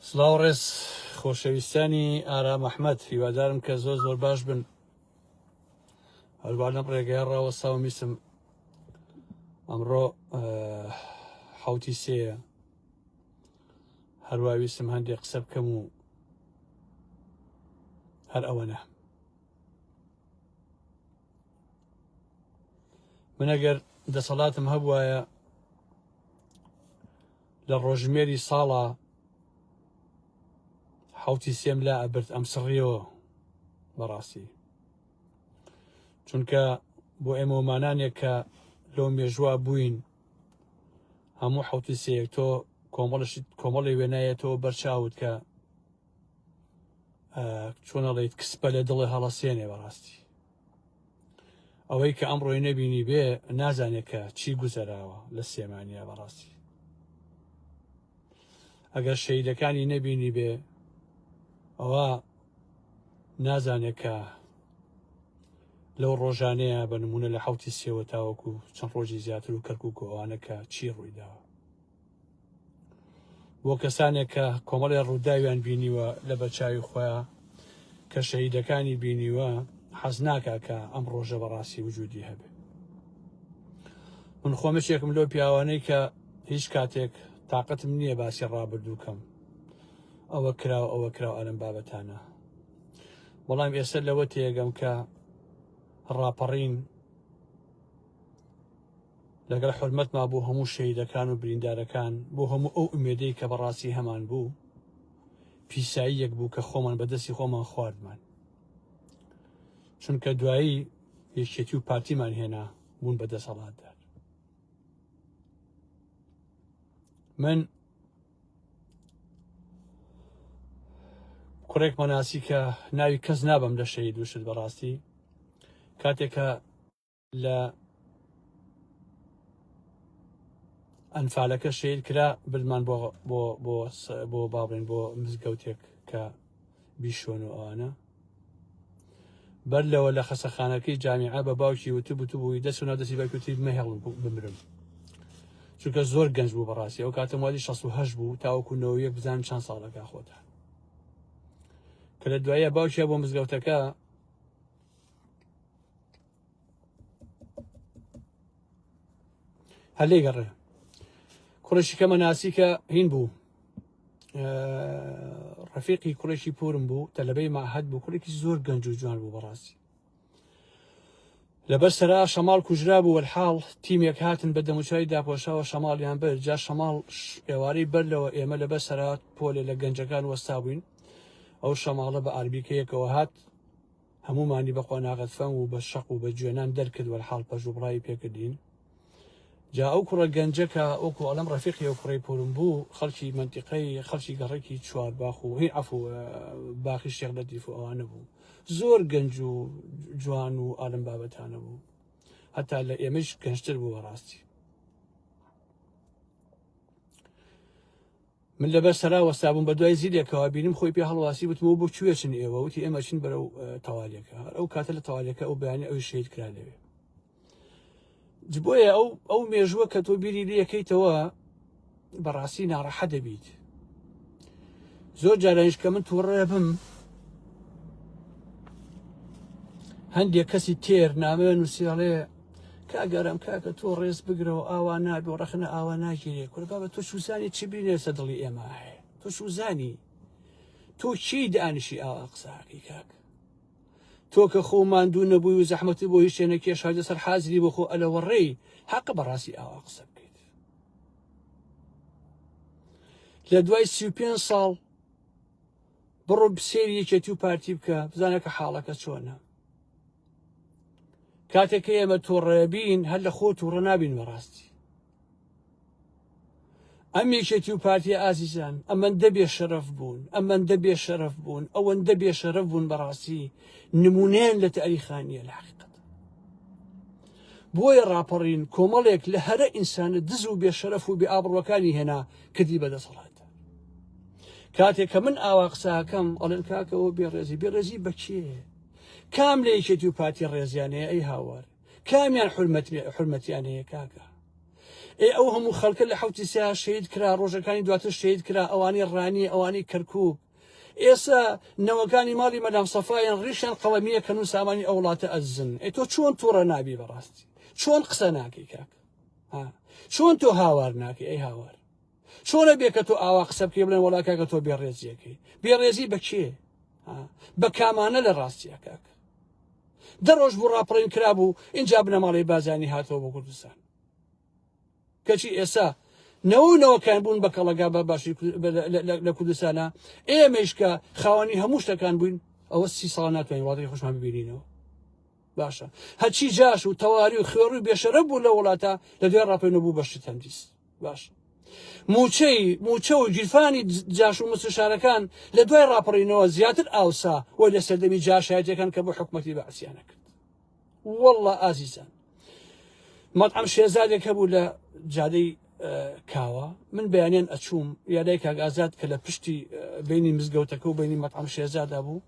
سڵاو ڕێز خۆشەویستانی ئارام ئەحمد هیوادارم کە زۆر زۆر باش بن هەروانم ڕێگەیە ڕاوە ساومیسم ئەمڕۆ حوتی سێە هەرواویستم هەندێک قسە بکەم و هەر ئەوەنە من ئەگەر دەسەڵاتم هەبوایە لە ڕۆژمێری ساڵە حوتی سێم لا ئەبرد ئەم سڕیەوە بەڕاستی چونکە بۆ ئێمەمانانێک کە لۆ مێژوا بووین هەموو حوتی سەیەک تۆ کۆمەڵشت کۆمەڵی وێنایەتەوە بەرچاوت کە چۆنەڵیت کسپە لە دڵێ هەڵەسێنێ بەڕاستی ئەوەی کە ئەم ڕۆی نەبینی بێ نازانێت کە چی گوزەراوە لە سێمانیا بەڕاستی ئەگەر شەیدەکانی نەبینی بێ ئەوە نازانێت کە لەو ڕۆژانەیە بە نمونە لە حوتی سێوە تاوەکو چەند ڕۆژی زیاتر و کەرکک و ئەوانە کە چی ڕوویداوە بۆ کەسانێک کە کۆمەڵێ ڕووداویان بینیوە لە بەچوی خۆیان کە شەهیدەکانی بینیوە حەز ناکە کە ئەم ڕۆژە بەڕاستی وجودی هەبێ من خۆمەشێکم لەو پیاوانەی کە هیچ کاتێک تااقتم نییە باسی ڕابردووکەم ئەوە کراوە ئەوە کراوە ئەلم بابەتانە بەڵام ئێستا لەوە تێگەم کە ڕاپەڕین لەگەڵ حورمەتما بۆ هەموو شەهیدەکان و بریندارەکان بۆ هەموو ئەو ئومێدەی کە بەڕاستی هەمان بوو پیسایی یەک بوو کە خۆمان بەدەستی خۆمان خواردمان چونکە دوایی یەکێتی و پارتیمان هێنا بوون بە دەسەڵاتدار من کوڕێک مەناسی کە ناوی کەس نابم لە شەید وشت بەڕاستی کاتێکە لە ئەنفالەکە شیر کرا بردمان بۆ بۆ بۆ بۆ باڵێن بۆ مزگەوتێک کە بیشۆن و ئەوانە بەر لەوە لە خەسەخانەکەی جامیعە بە باوکی وتب وتو بووی دەست و نادەسی باکوتی مەهێڵ بمرم چونکە زۆر گەنج بوو بەڕاستی ئەو کاتە مالی 16 بوو تاوەکوونەوەیە بزان چەند ساڵەکە خۆتان کە لە دوایە باوکیە بۆ مزگەوتەکە هەلێ گەڕێ کوڕشی کەمە ناسی کە هین بوو ڕفیقی کوڕێکی پورم بوو تەلبەی ماهەت بوو کوڕێکی زۆر گەنج و جوان بوو بەڕاستی لەبەر سەرا شەماڵ کوژرا بوو وەحاڵ تیمێک هاتن بە دەموچای داپۆشاوە شەماڵیان بەر جا شەماڵ ئێوارەی بەر لەوە ئێمە لەبەر سەرات پۆلێ لە گەنجەکان وەستا بووین ئەو شەماڵە بە ئاربیکەیەکەوە هات هەموومانی بە قۆناغە فەنگ و بە شەق و بە جوێنان دەرکرد وەلحاڵ پەژ و بڕاوی پێکردین. جا ئەو کوڕە گەنجە کە وەکو ئەڵێم ڕەفیقی ئەو کوڕەی پۆرم بوو، خەڵکی مەنتیقەی خەڵکی گەڕەکی چوارباخ و هی عەفو باخی شێخ لەتیف و ئەوانە بوو. زۆر گەنج و جوان و ئالم بابەتانە بوو. هەتا لە ئێمەیش گەنجتر بوو بەڕاستی. من لەبەر سەرا وەستابووم بە دوای زیلێکەوە بینم خۆی پێ هەڵواسی وتمەوە بۆ کوێچن ئێوە وتی ئێمە چین بەرەو تەوالەکە هەر ئەو کاتە لە تەوالەکە ئەو بەیانی ئەوی شەید کرا لەوێ جبۆیە ئەو ئەو مێژووە کە تۆ بیری لەکەیتەوە بەڕاستی ناڕەحە دەبیت زۆر جارانش کە من تووڕێ بم هەندێک کەسی تێر نامەوێن نووسیڵێ کاک ئارام کاکە تۆ ڕێز بگرەوە ئاوا نابێ و ڕەخنە ئاوا ناگیرێ کورە بابە تۆ چوزانی چ بینێ لەسەر دڵی ئێمە هەیە تۆ چوزانی تۆ چی دانیشی ئاوا قساکەی کاک تۆ کە خۆ ماندوو نەبووی و زەحمەتی بۆ هیچ شتێ نەکێشا لەسەر حازری بۆ خۆ ئەلەوەڕێی حەقە بەڕاستی ئاوا قسە بکەیت لە دوای سی و پێنج ساڵ بڕۆ سێری یەکێتی و پارتی بکە بزانە کە حاڵەکە چۆنە کاتێک کە ئێمە تۆڕەبین هەر لە خۆ تووڕە نابین بەڕاستی ئەم یەکێتی و پارتی ئازیزان ئەمەندە بێ شەرەف بوون ئەمەندە بێ شەرەف بوون ئەوەندە بێ شەرەف بوون بەڕاستی نمونێن لە تاریخانیە لە حقیقت بۆیە ڕاپەڕین کۆمەڵێک لە هەرە ئینسانە دز و بێ شەرەف و بێ ئابڕەکانی هێنا کردی بەدەسەڵات کاتێک کە من ئاوا قساکەم ئەڵێن کاکەەوە بێڕێزی بێڕێزی بەچێ کام لە یەکێتی و پارتی ڕێزیان هەیە ئەی هاوار کامیان حرمەت حرمەتیان هەیە کاکە ئێ ئەو هەموو خەڵکە لە حوتی سیا شەید کرا ڕۆژەکانی دواتر شەید کرا ئەوانەی ڕانی ئەوانەی کەرکک ئێستا نەوەکانی ماڵی مەدام سەفاایان ڕیشیان قەڵەمیە کەن و سامانی ئەو وڵاتە ئەزن ئەی تۆ چۆن تووڕە نابی بەڕاستی چۆن قسە ناکەی کاک چۆن تۆ هاوار ناکەی ئەی هاوار چۆن ئەبێ کە تۆ ئاوا قسە بکەی بڵێن وەڵا کاکە تۆ بێڕێزیەکەی بێڕێزی بە کێ بە کامانە لە ڕاستیە کاکە دەڕۆژ بوو ڕاپەڵین کرابوو اینجا بنەماڵی بازانی هاتەوە بۆ کوردستان کەچی ئێستا نەوەنەوەکان بوون بە کەڵەگا بە باشی لە کوردستانە ئێمەیشکە خاوەنی هەموو شتەکان بووین ئەوە سی ساڵ ناتوانین وڵاتی خۆشمان ببینینەوە باشە هەچی جاش و تەواری و خوێڕ و بێشەرە بوو لە وڵاتە لە دوێ ڕاپێنە بوو بەشی تەندیس باش موچەی موچە و گیرفانی جاش و مستشارەکان لە دوای ڕاپەڕینەوە زیاتر ئاوسا وەی لە سەردەمی جاشایەتەکان کە بۆ حکوومەتی بەعسیانە کرد والله ئازیزان مەطعم شێزادێک هەبوو لە جادەی کاوە من بەیانیان ئەچووم یادای کاک ئازاد کە لە پشتی بینی مزگەوتەکە و بینی مەطعم شێزادا بوو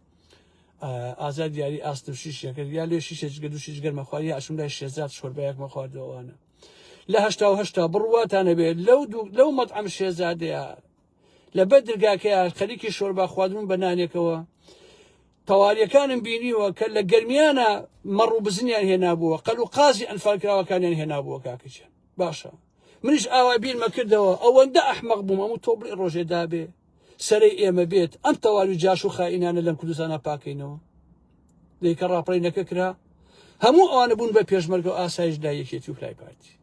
ئازاد دیاری ئاست و شیشەکرد یا لێ شیشە جگە دوو شیش گەرمە خوارد یا ئەشم لای شێزاد شۆربایەکمە خواردەوەوانە لە هشتا و هشتا بڕواتانە بێت لەو لەو مەت ئەم شێزادەیە لە بە درگاکەیە خەریکی شۆربا خواردن بە نانێکەوە تەواریەکانم بینیوە کە لە گەرمیانە مەڕ و بزنیان هێنابووە قەل و قازی ئەنفالکراوەکانیان هێنابووە کاکەچێن باشە منیش ئاوا بیرمە کردەوە ئەوەندە ئەحمەق بووم ئەم تۆبڵی ڕۆژێ دابێ سەرەی ئێمە بێت ئەم تەواوی جاش و خائینانە لەم کوردستانە پاکەینەوە دەی کە ڕاپەڕینەکە کرا هەموو ئەوانە بوون بە پێشمەرگە و ئاسایش لای یەکێتی و لای پارتی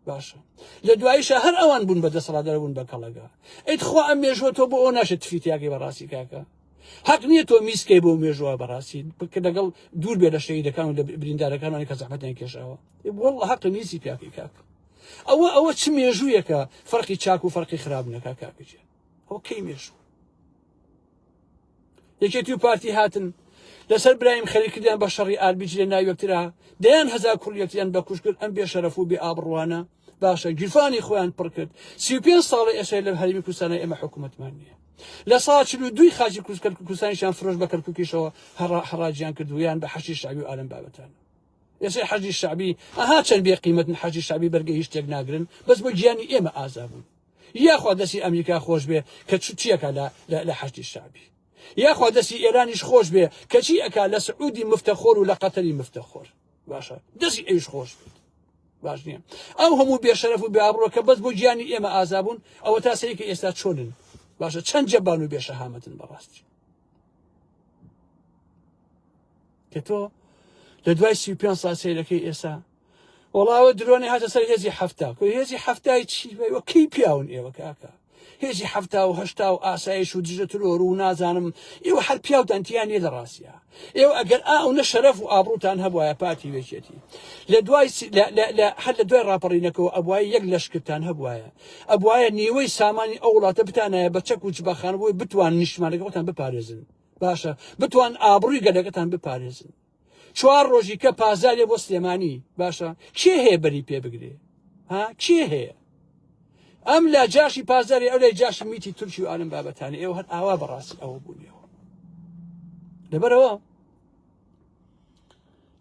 باشە لە دوایشە هەر ئەوان بوون بە دەسەڵاتدار بوون بە کەڵەگا ئەیت خوا ئەم مێژوە تۆ بۆ ئەو ناشێت تفیتیاگەی بەڕاستی کاکە حەق نییە تۆ میسکەی بۆ مێژوە بەڕاستی بکە لەگەڵ دوور بێ لە شەیدەکان و لە بریندارەکانانی کە زەحمەتیان کێشاوە وڵ حەق نیسی پیاکەی کاکە ئەوە ئەوە چ مێژوویەکە فەرقی چاک و فەرقی خراپ نەکا کاکەجێ ئەوە کەی مێژوو یەکێتی و پارتی هاتن لەسەر برایم خەری کردیان بە شەڕی ئاربیج لە ناویەکترا دەیان هەزار کوڵیەکتیان بە کوشکرد ئەم بێ شەرەف و بێ ئابڕوانە باشە گیرفانی خۆیان پڕ کرد سی و پێنج ساڵە ئێسای لە هەرمی کوردستانە ئێمە حکوومەتمان نییە لە سا چل و دوی خاچی کوردکرد کوردستانیشان فرۆش بە کەرککیشەوە هەڕاجیان کردو یان بە حەشی شعبی و ئالم بابەتان یەسەی حەجی شعبی ئەها چەند بێ قیمەتن حەجی شعبی بەرگە هیچ تێک ناگرن بەس بۆ گیانی ئێمە ئازا بوون یاخوا دەستی ئەمریکا خۆش بێ کە چوتیەکە لە لە حەجی شعبی یاخوا دەستی ئێرانیش خۆش بێ کەچی ئەکا لە سعودی مفتەخۆر و لە قەتەری مفتەخۆر باشە دەستی ئەوش خۆش بێت باش نییە ئەو هەموو بێشەرەف و بابڕۆ کە بەس بۆ گیانی ئێمە ئازابوون ئەوە تا سەیکە ئێستا چۆنن باشە چەند جەبان و بێشەهامەتن بەڕاستی کە تۆ لە دوای سی پێ سا سیرەکەی ئێسا وڵاوە درۆنی هاتە سەر هێزی هەفتا کو هێزی هەفتای چی وەکەی پیاون ئێوە کاکە هێزی هەفتا و هەشتا و ئاسایش و دژە ترۆر و نازانم ئێوە هەر پیاوتان تیانە لە ڕاستە ئێوە ئەگەر ئاو نە شەرەف و ئابروتان هەبواە پارتی وێچێتی لە دوای هەر لە دوای ڕاپەڕینەکەەوە ئەبواە یەک لەشکتان هەبواە ئەبواە نیوەی سامانی ئەو وڵاتە بتانایە بە چەک و چ بەخانبووی بتوان نیشتمانەکەتان بپارێزن باشە بتوان ئابڕوی گەلەکەتان بپارێزن چوار ڕۆژی کە پازارێ بۆ سلێمانی باشە کێ هەیە بەری پێ بگرێ ها کێ هەیە ئەم لا جاشی پازاری ئەو لای جاشی میتی تورکی و ئالم بابەتانی ئێوە هەر ئاوا بەڕاستی ئەوە بوونیەوە لەبەرەوە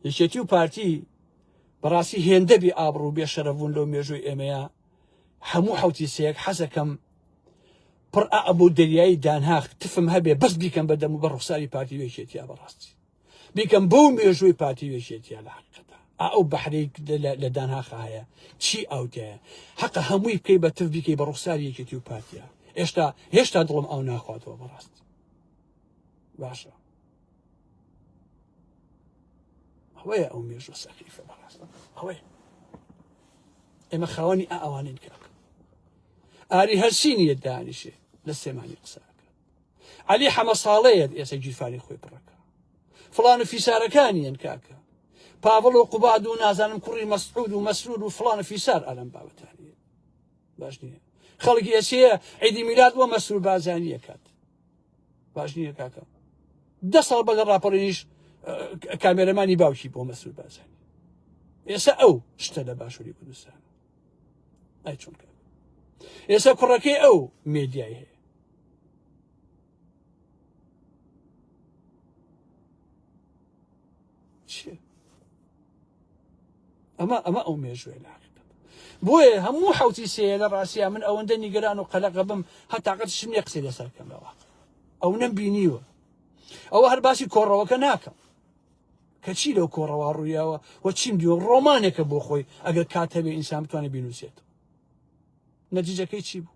یەکێتی و پارتی بەڕاستی هێندەبی ئابڕ و بێشەرەبوون لەو مێژووی ئێمەیە هەموو حوتی سەیەک حەزەکەم پڕ ئا ئەبوو دەریایی دانهاخ تفم هەبێ بەس بیکەم بە دەم و بە ڕوخساری پارتی وێکێتیا بەڕاستی بیکەم بەو مێژووی پارتی وێکێتیا لە حقەدا ئەو بەحری لە دانهاخە هەیە چی ئاوتەیە حەقە هەمووی بکەی بە تف بیکەی بە ڕوخساری یەکێتی و پارتیا هێشتا هێشتا دڵم ئەو ناخواتەوە بەڕاستی باشە ئەوەیە ئەو مێژوە سەخیفە بەڕاست ئەوەیە ئێمە خاوەنی ئا ئەوانین کاک ئاری هەرچی نیە دانیشێ لە سێمانی قساکە علی حەمە ساڵەیەت ئێسە گیرفانی خۆی پڕەکە فلان و فیسارەکانیان کاکە پاڤڵ و قوباد و نازانم کوڕی مەسعود و مەسرور و فلان و فیسار ئەلم باوتانیە باش نییە خەڵکی ئەسەیە عیدی میلاد وە مەسرور بازانیەکات باش نییە کاکە دە ساڵ بەگە ڕاپەڕینیش کامێرەمانی باوکی بۆ مەسرور بازانی ئێستا ئەو شتە لە باشووری کوردستان ئای چۆن کار ئێستا کوڕەکەی ئەو مێدیای هەیە چیە ئەمە ئەمە ئەو مێژوێ لاقیقت بۆیە هەموو حوتی سەیە لە ڕاستە من ئەوەندە نیگەران و قەلەقە بم هەتاقەت شنێ قسەی لەسەر کەمەوە ئەو نەم بینیوە ئەوە هەر باسی کۆڕەوەکە ناکەم کەچی لەو کۆڕەوە ڕوویاوە و چیم دیوە ڕۆمانێکە بۆ خۆی ئەگەر کاتەبێ ئینسان بتوانێت بینوسێت نەتیجەکەی چی بوو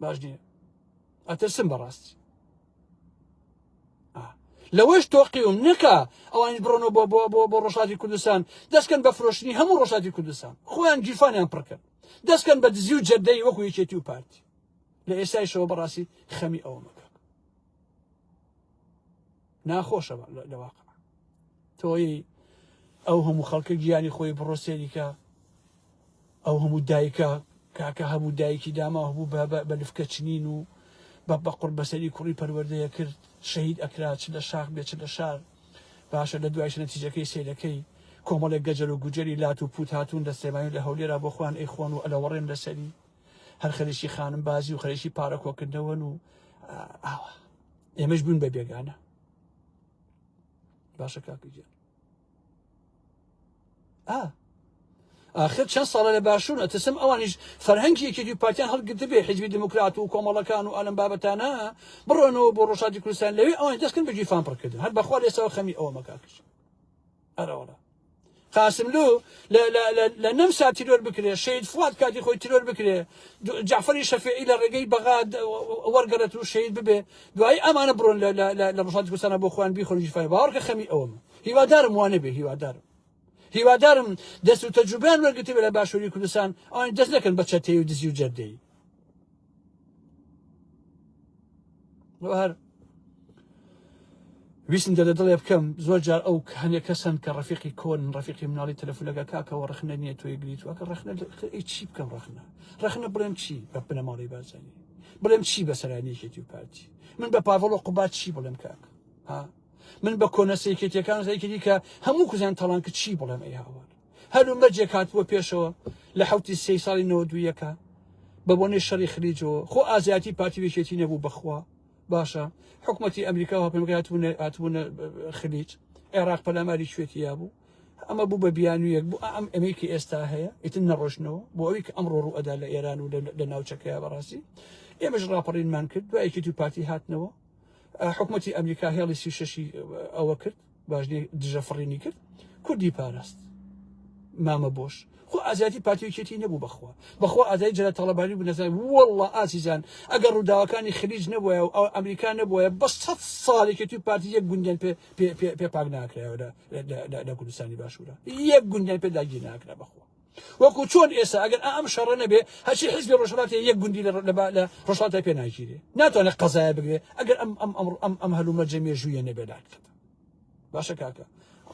باش نییە ئەترسم بەڕاستی لەوەش تۆقیوم نکە ئەوانی بڕۆنەوە بۆ بۆ بۆ بۆ ڕۆژاتی کوردستان دەستکەن بە فرۆشتنی هەموو ڕۆژاتی کوردستان خۆیان گیرفانیان پڕکرد دەستکەن بە دزی و جەردەی وەکو یەکێتی و پارتی لە ئێستایشەوە بەڕاستی خەمی ئەوە مەکە ناخۆشە لە واقع تۆی ئەو هەموو خەڵکە گیانی خۆی بڕۆ سێریکە ئەو هەموو دایکە کاکە هەموو دایکی داما هەبوو بە لفکە چنین و بە بە قڕ بەسەری کوڕی پەروەردەیە کرد شەهید ئەکرا چ لە شاخ بێ چ لە شار باشە لە دوایش نەتیجەکەی سیرەکەی کۆمەڵێک گەجەل و گوجەری لات و پوت هاتوون لە سێمانی لە هەولێرا بۆ خوان ئەی خۆن و ئەلەوەڕێن لەسەری هەر خەریکی خانم بازی و خەریکی پارە کۆکردنەوەن و ئاوا ئێمەش بوون بە بێگانە باشە کاکەگیان ئا آخر چەند ساڵە لە باشوون ئەتەسم ئەوانیش فەرهەنگی یەکێتی پارتیان هەڵگرت بێ حزبی دموکرات و کۆمەڵەکان و ئەلم بابەتانە بڕۆنەوە بۆ ڕۆژاتی کوردستان لەوێ ئەوان دەستکن بەگیرفان پڕکردن هەر بەخوا لێسەوە خەمی ئەوە مەکاکەش ئەرەوەڵە قاسملو لە نەمسا تیرۆر بکرێ شەید فواد کاتی خۆی تیرۆر بکرێ جعفری شەفیعی لە ڕێگەی بەغا وەرگەڕێت و شەید ببێ دوایی ئەمانە بڕۆن لە ڕژاتی کوردستانە بۆ خۆیان بیخۆن ژیفای باوەڕکە خەمی ئەوم هیوادارم وانە بێ هیوادارم هیوادارم دەست و تەجوبیان وەرگتیبێ لە باشووری کوردستان ئەوان دەست نەکەن بە چەتەی و دزی و جەردەی هەر ویستم دەدە دڵێ بکەم زۆر جار ئەو هەنێک کەسن کە ڕفیقی کۆن ڕفیقی مناڵی تەلفلەکە کاکەەوە ڕخنە نیە توی گریت وەکە ڕخنە چی بکەم ڕخنە ڕخنە بڵێم چی بە بنەماڵی بازانی بڵێم چی بەسەرانیەکێتی و پارتی من بە پاڤڵ و قوبات چی بڵێم کاک ها من بە کۆنە سێکێتەکان زیکردی کە هەموو کوزیان تەڵان کە چی بڵێم ئەی هاوار هەل و مەرجێک هاتبووە پێشەوە لە حوتی سێی ساڵی نەوە دوویەکە بە بۆنەی شەڕی خلیجەوە خۆ ئازیاتی پارتی وێکێتی نەبوو بەخوا باشە حکوومەتتی ئەمریکا و پێمگاتبوونە هاتبوونە خلیج عێراق پەلاماری شوێتییا بوو ئەمە بوو بە بیانویەک بوو ئەم ئەمەیکی ئێستا هەیە ئیتن نەڕۆشنەوە بۆ ئەوی کە ئەمڕۆ ڕوو ئەدا لە ئێران و لە ناوچەکەی بەڕاستی ئێمەش ڕاپەڕینمان کرد دوایەکی تو پارتی هاتنەوە حکوومەتتی ئەمریکا هێڵی سی شەشی ئەوە کرد باش نی دژە فڕینی کرد کوردی پاراست مامە بۆش خۆ ئازادی پاتیوکێتی نەبوو بەخوا بەخوا ئازای جرە تەڵەبانی بوو نەزای وەڵڵە ئازیزان ئەگەر ڕووداوەکانی خلیج نەبووە و ئەو ئەمریکا نەبووە بە سەد ساڵێکێتی و پارتی یەک گوندیان پێ پێ پاک ناکرایەوە لە کوردستانی باشوورە یەک گوندیان پێ داگیر ناکرا بەخوا وەکو چۆن ئێستا ئەگەر ئائەم شەڕە نەبێ هەرچی حیزبی ڕۆژهەڵات هەیە یەک گوندی لە لە لە ڕۆژهەڵاتا پێ ناگیرێ ناتوانێت قەزایە بگرێ ئەگەر ئەم ئەم ئەم ئەم ئەم هەلومەرجە مێژوویە نەبێ لاقەت باشە کاکە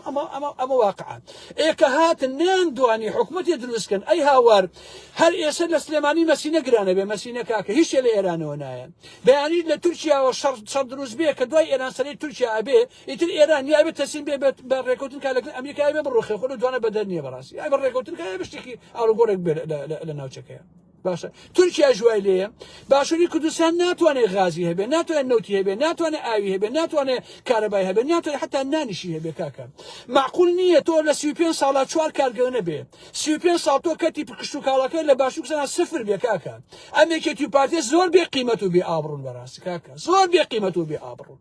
ئەمە ئەمە ئەمە واقعا ئێکە هاتن نیان دوانی حکوومەتی دروستکەن ئەی هاوار هەر ئێستا لە سلێمانی مەسینە گرانە بێ مەسینە کاکە هیچ لە ئێرانەوە نایە بەیانی لە تورکیاوە شەڕ شەڕ دروست بێ کە دوای ئێران سەری تورکیا ئەبێ ئیتر ئێران یا ئەبێ تەسلیم بێ بێت بە ڕێکەوتن کا لەگەڵ ئەمریکا یا ئەبێ بڕوخێ خۆ لەو دوانە بەدەر نییە بەڕاستی یا ئەبێ ڕێکەوتن کا یا ئەبێ شتێکی ئاڵوگۆڕێک بێ لە ناوچەکەیە باشە تورکیاش وای لێیە باشووری کوردستان ناتوانێت غازی هەبێ ناتوانێت نەوتی هەبێ ناتوانێت ئاوی هەبێ ناتوانێت کارەبای هەبێ ناتوانێت حتا نانیشی هەبێ کاکە معقول نییە تۆ لە سی و پێنج ساڵا چوار کارگەو نەبێ سی و پێنج ساڵ تۆ کەتی پکشت و کاڵەکە لە باشوور کوردستان سفر بێ کاکە ئەم یەکێتی و پارتیە زۆر بێ قیمەت و بێ ئابڕون بەڕاستی کاکە زۆر بێ قیمەت و بێ ئابڕون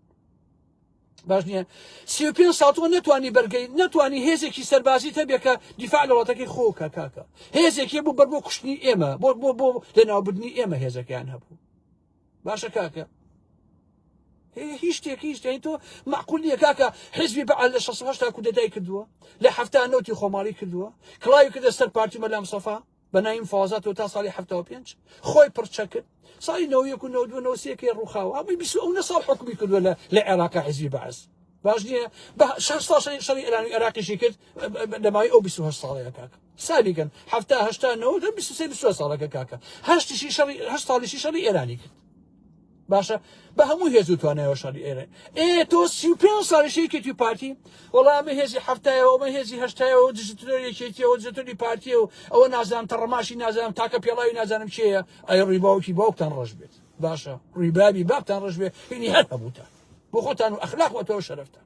باش نییە سی و پێ ساڵ تۆ نەتوانی بەرگەی نەتوانی هێزێکی سەربازی تەبێ کە دیفاع لە وڵاتەکەی خۆکە کاکە هێزێکی بوو بەر بۆ کوشتنی ئێمە بۆ بۆ بۆ لەناوبردنی ئێمە هێزەکەیان هەبوو باشە کاکە هیچ شتێک هیچ دەین تۆ معقولیە کاکە حزبی بە لە 16 کودەتای کردووە لە هەفتا نوتی خۆماڵی کردووە کڵاوی کردە سەر پارتی مەلام سەفا بە نایم فازاتەوە تا ساڵی هەفتەوە پێنج خۆی پڕچە کرد ساڵی نەوە یەک و نەودوە نەوسەکەی ڕووخاوە ئەوی بیست ئەو نە ساڵ حکومی کردووە لە لە عێراقا حزبی بەعس باش نییە بە شش ساڵ شەڕی ئێرانی عێراقیشی کرد لەماوەی ئەو 28 ساڵەیە کاکە سابیگەن هەفتا هەشتا نەوە 23 ساڵەکە کاکە هەشتیشی شەڕی هەشت ساڵیشی شەڕی ئێرانی کرد باشە بە هەموو هێز و توانایەوە شاری ئێرە ئێ تۆ سی و پێنج ساڵی شەیکێتی پارتی وەڵا ئەمە هێزی حەفتایەوە ئەمە هێزی هەشتایەوە دژترۆر یەکێتیەوە دژتری پارتیە و ئەوە نازانم تەڕەماشی نازانم تاکە پێڵاوی نازانم چێە ئەی ڕیباوکی باوکتان ڕژ بێت باشە ڕیبابی باپتان ڕژ بێ هینی هەر هەبووتان بۆ خۆتان و ئەخلاق وەتەوە شەرفتان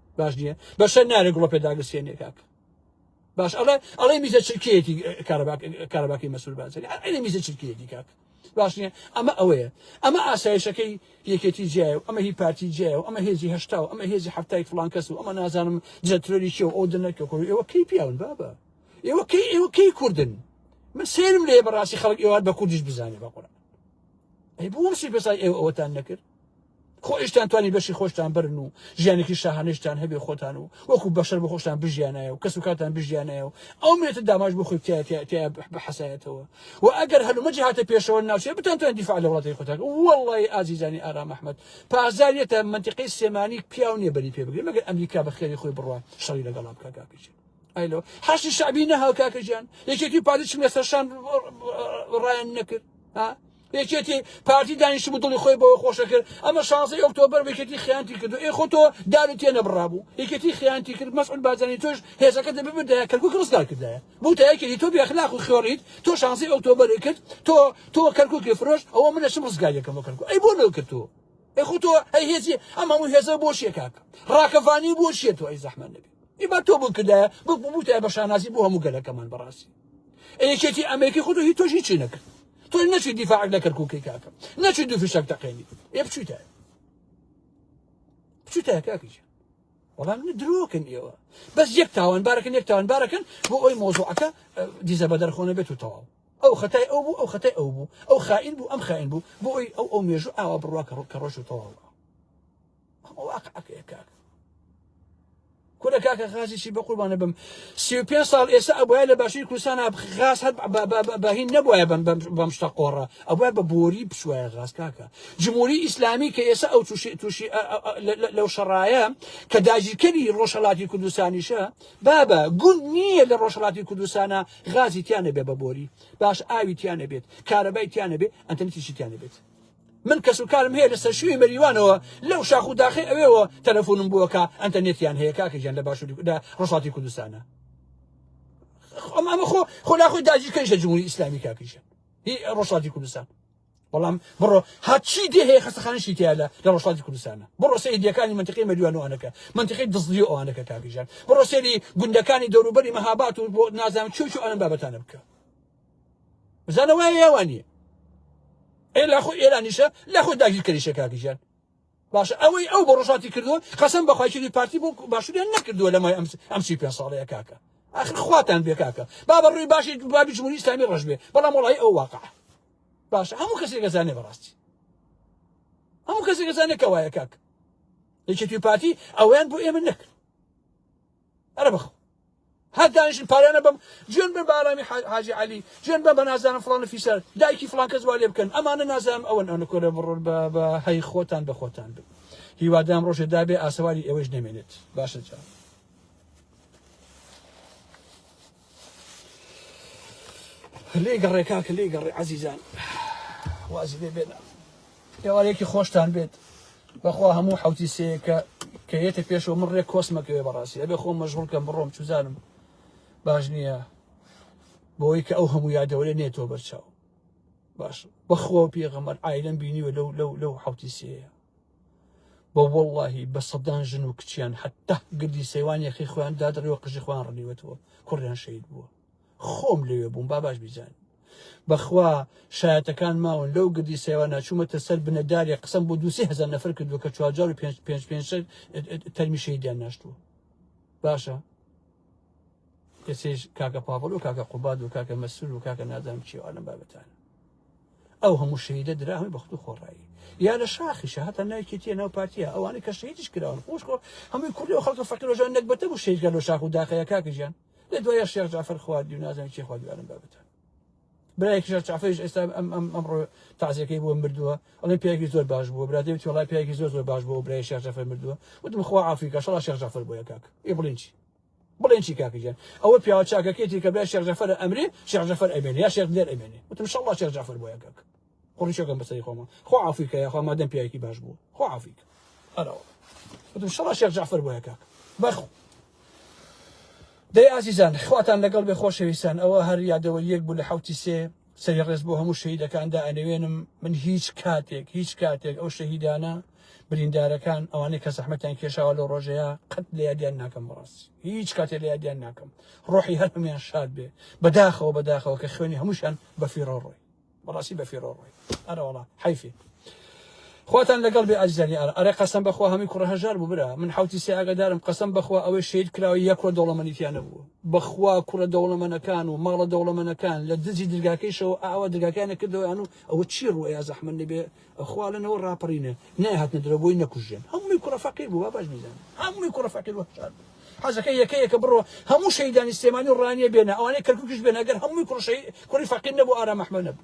باش نییە بەشەر نارێ گوڵە پێداگرسێنێ کاک باش ئەڵێ ئەڵێ میزە چرکەیەتی کارەباکی مەسول بازەری ئەڵێ میزە چرکەیەتی کاک باش نییە ئەمە ئەوەیە ئەمە ئاسایشەکەی یەکێتی جیای و ئەمە هی پارتی جیای و ئەمە هێزی هشتا و ئەمە هێزی هەفتای فلان کەس و ئەمە نازانم جەترۆری چێ و ئەو دنەکە خۆ ئێوە کەی پیاون بابە ئێوە کەی ئێوە کەی کوردن من سێرم لێ بەڕاستی خەڵک ئێوار بە کوردیش بزانێ بە قڕ ئەی بۆ شی بەسای ئێوە ئەوەتان نەکرد خۆیشتان توانی بەشی خۆشتان برن و ژیانێکی شاهانەشتان هەبێ خۆتان و وەکو بەشەر بۆ خۆشتان بژیانایە و کەس و کاتان بژیانایە و ئەو مێتە داماش بۆ خۆی تایە بحەسایەتەوە و ئەگەر هەلومەجی هاتە پێشەوە ناوچەیە بتان توان دیفاع لە وڵاتی خۆتان وەڵی ئازیزانی ئارام ئەحمد پازاریەتە منتیقی سێمانی پیاو نیە بەری پێ بگرێ مەگەر ئەمریکا بە خێری خۆی بڕوات شەڕی لەگەڵا بکە کاکەجی ئایلۆ حەشی شعبی نەهاو کاکەجیان یەکێتی و پارتی چم لەسەر شان ڕایان نەکرد ها یەکێتی پارتی دانیشتبوو دڵی خۆی بەوە خۆشە کرد ئەمە شانزەی ئۆکتۆبەر یەکێتی خیانتی کرد ئێ خۆ تۆ دارو تێ نەبڕابوو یەکێتی خیانتی کرد مەسعود بارزانی تۆش هێزەکە دەبێ بدایە کەرکوک ڕزگار کردایە بوو تا یەکێتی تۆ بێخلاق و خێڕیت تۆ شانزەی ئۆکتۆبەر کرد تۆ تۆ کەرکوکی فرۆش ئەوە من ئەچم ڕزگاریەکەم بۆ کەرکوک ئەی بۆ نەکرد تۆ ئەی خۆ تۆ ئەی هێزی ئەم هەموو هێزە بۆ شیە کاک ڕاکەفانی بۆ شیە تۆ ئەی زەحمەت نەبێ ئیبا تۆ بکردایە بک بوو تای بە شانازی بۆ هەموو گەلەکەمان بەڕاستی ئەیەکێتی ئەمریکی خۆتۆ هی تۆشی چی نەکرد تۆ نەچی دیفاعک لە کەرکووکی کاکە نەچی دوو فشەک تەقێنی ئێ بچیتە بچیتە کاکیش وەڵام درۆکن ئێوە بەس یەک تاوان بارەکەن یەک تاوان بارەکەن بۆ ئەوی مۆزوعەکە دیزە بە دەرخۆنە بێت و تەواو ئەو خەتای ئەو بوو ئەو خەتای ئەو بوو ئەو خائین بوو ئەم خائین بوو بۆ ئەوی ئەو ئەو مێژوو ئاوا بڕوا کە ڕۆکە ڕۆژ و تەواوە ئەمە واقعەکەیە کاک کورە کاکە غازی چی بە قوربانە بم سی و پێنج ساڵ ئێستا ئەبواە لە باشووری کوردستان غاز هەر بەهین نەبواە بەم شتە قۆڕە ئەوە بە بۆری بشوایە غاز کاکە جمهوری ئیسلامی کە ئێستا ئەو تووشی لەو شەڕایە کە داگیرکەری ڕۆژهڵاتی کوردستانیشە بابە گوند نییە لە ڕۆژهڵاتی کوردستانە غازی تیانە بێ بە بۆری باش ئاوی تیانە بێت کارەبای تیانە بێت ئەتەنتیشی تیانە بێت من کەس و کارم هەیە لە سەرشوی مەریوانەوە لەو شاخ و داخی ئەوێەوە تەلەفۆنم بووەکە ئەنتەرنێتیان هەیە کاکە گیان لە باشووری لە ڕۆژهەڵاتی کوردستانە ئەم ئەمە خۆ خۆلا خۆی داگیرکەریشە جمهوری ئیسلامی کاکیشە هی ڕۆژهەڵاتی کوردستان بەڵام بڕۆ هەچی دێ هەیە خەستەخانشی تیا لە لە ڕۆژهڵاتی کوردستانە بڕۆ سەیدیەکانی منتقی مەریوانوانەکە منتقی دزدی ئەوانەکە کاکیژان بڕۆ سێری گوندەکانی دەوروبەری مەهابات و بۆ نازانم چوچ ئەم بابەتانە بکە بزانە وای ئێوە نییە ئێ لە خۆ ئێرانیشە لە خۆ داگیر کەریشە کاکیژان باشە ئەوەی ئەو بە ڕۆژاتی کردووە قەسم بەخوایکردی پارتی بۆ باشوریان نەکردووە لەمای ئەمسی پێ ساڵەیە کاکە آخر خواتان بێ کاکە با بە ڕووی باشی بابی جمهوری ئیسلامی ڕژ بێ بەڵام وڵی ئەو واقع باشە هەموو کەسێک گەزانێ بەڕاستی هەموو کەسێک گەزانێکەوەیە کاک یەکێتی پارتی ئەویان بۆ ئێمە نەکرد ئەرە بخ هەر دانیشن پاریانە بم جوێن بن بە ئارامی حاجی علی جوێن بە بە نازانم فڵانە فیسەر دایکی فڵان کەس والێ بکەن ئەمانە نازانم ئەوەن ئەوە کۆرە بڕۆن بە هەی خۆتان بە خۆتان بن هیوادام ڕۆژێ دابێ ئاسەواری ئێوەش نەمێنێت باشە جا لێی گەڕێ کاکە لێی گەڕێ عزیزان وازی لێ بێنە ئێوارێکی خۆشتان بێت بەخوا هەموو حوتی سەیەکە کە یەتە پێشەوە من ڕێک کۆسمەکەوێ بەڕاستی ئەبێ خۆم مەژغول کەم بڕۆم چوزانم باش نییە بۆی کە ئەو هەموو یادەوەێ نێتەوە بەرچاو باش بەخۆ پێغەمەر ئایلم بینیوە لەو لەو لەو حوتی سەیە بە وەڵاهی بە سەدان ژن و کچیان حتا گردی سەیوان یەخی خۆیان دادڕەوە قژی خۆیان ڕنیوەتەوە کوڕیان شەید بووە خۆم لەوێ بووم با باش بیزان بەخوا شایەتەکان ماون لەو گردی سەیوان ناچوومەتە سەر بنەدارێ قسم بۆ دوسی هزار نەفر کردووە کە چوارجار و پێنج پێنج پێنج تەرمی شەیدیان ناشتووە باشە کەسێش کاکە پاڤڵ و کاکە قوباد و کاکە مەسرور و کاکە نازانم چیوانم بابەتان ئەو هەموو شەهیدە دراهمی بەخت و خۆڕایی یا لە شاخیشە هەتا نایکێتیە ناو پارتیە ئەوانەی کە شەهیدیش کراون خۆش خۆ هەمووی کوردی و خەڵکە فەقیرۆژان نەگبەتە بوو شەهیدگە لە شاخ و داخەیە کاکەژیان لە دوایە شێخ جعفر خواردی و نازان چی خواردی ئەم بابەتە برای کیشە چافێش ئێستا ئەم ئەم ئەمڕۆ تازیەکەی بۆ مردووە ئەڵێ پیاگی زۆر باش بوو برادێ تۆڵای پیاگی زۆر زۆر باش بۆ برای شێخ جعفر مردووە وتم خوا عافیکە شڵا شێخ جعفر بۆیە کاک ئی بڵین چی بڵێن چی کاکە گیان ئەوە پیاوە چاکەکەیەتی کە بڵێ شێخ جەفەر ئەمرێ شێخ جەفەر ئەمێنێ یا شێخ دلێر ئەمێنێ وتم شەڵڵا شێخ جەفەر بۆیە کاکە قڕیشەکەم بەسەری خۆمە خۆ عافیکە یاخوا مادەم پیاوێکی باش بوو خۆ عافیکە ئەرەوە وتم شەڵڵا شێخ جەفەر بۆیە کاکە بەخو دەی ئازیزان خواتان لەگەڵ بێ خۆشەویستان ئەوە هەر یادەوە یەک بوو لە حوتی سێ سەری ڕێز بۆ هەموو شەهیدەکان دائەنەوێنم من هیچ کاتێک هیچ کاتێک ئەو شەهیدانە بریندارەکان ئەوانەی کە زەحمەتیان کێشاوە لەو ڕۆژەیە قەت لە یادیان ناکەم بەڕاستی هیچ کاتێ لە یادیان ناکەم ڕۆحی هەر هەمیان شاد بێ بەداخەوە بەداخەوە کە خوێنی هەمووشان بەفیڕۆ ڕۆی بەڕاستی بەفیڕۆ ڕۆی ئەرەوەڵا حیفێ خواتان لەگەڵ بێ ئازیزانی ئارا. ئەرێ قەسەم بەخوا هەموی کوڕە هەژار بوو برا من حەوتی سێ ئاگادارم قەسەم بەخوا ئەوەی شەید کراوە یەک کوڕە دەوڵەمەنی تیا نەبووە بەخوا کوڕە دەوڵەمەنەکان و ماڵە دەوڵەمەنەکان لە دزی درگاکەیشەوە ئاوا درگاکەیان ئەکردەوە ئەنوو ئەوە چی ڕوو ئەیا زەحمەت نەبێ خوا لەنەوە ڕاپەڕینە نایهاتنە درەوە بۆی نەکوژرێن هەمووی کوڕە فەقیر بوو وا باش بیزان هەمووی کوڕە فەقیر وەشار بوو حەزەکە یەکە یەکە بڕۆ هەموو شەیدانی سلێمانی و ڕانیە بێنە ئەوانەی کەرکوکیش بێنە گەر هەمووی کوڕشەی کوڕی فەقیر نەبوو ئارام ئەحمەد نەبوو